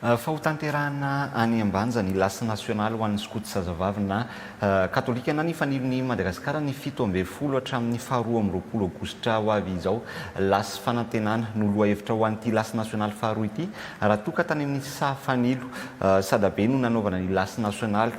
Fa hotanterahina any Ambanja ny Lasy nasionaly ho an'ny Skoto Zazavavy na Katolika na ny Fanilin'i Madagasikara ny fito ambin'ny folo hatramin'ny faharoa amby roapolo Aogositra ho avy izao. Lasy fanantenana no lohahevitra ho an'ity Lasy nasionaly faharoa ity raha toa ka tany amin'ny saha fanilo, sadabe no nanaovana ny Lasy nasionaly.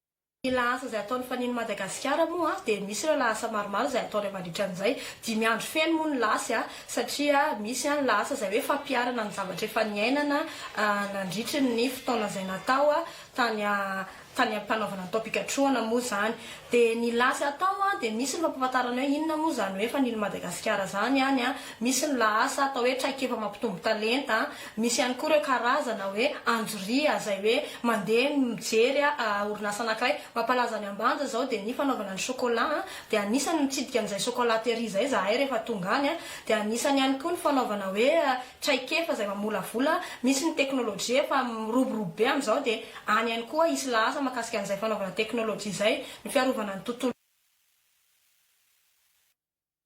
Ny lahasa izay ataon'ny Fanian'i Madagasikara moa dia misy ireo lahasa maromaro izay ataony mandritra an'izay dimy andro feno moa ny lasy satria misy ny lahasa izay hoe fampiharana ny zavatra efa niainana nandritry ny fotoana izay natao tany tany am-panaovana ny taom-pikatrohana moa izany dia ny lasy atao dia misy ny fampahafantarana hoe inona moa izany hoe Fanian'i Madagasikara izany any misy ny lahasa atao hoe traikefa mampitombo talenta Misy ihany koa ireo karazana hoe anjoria izay hoe mandeha mijery orinasa anankiray. Mampalaza any Ambanja izao dia ny fanaovana ny chocolat dia anisany mitsidika an'izay chocolaterie izay izahay rehefa tonga any. Dia anisany ihany koa ny fanaovana hoe traikefa izay mamolavola. Misy ny teknolojia efa miroborobo be amin'izao dia any ihany koa hisy lahasa mahakasika an'izay fanaovana teknolojia izay, ny fiarovana ny tontolo.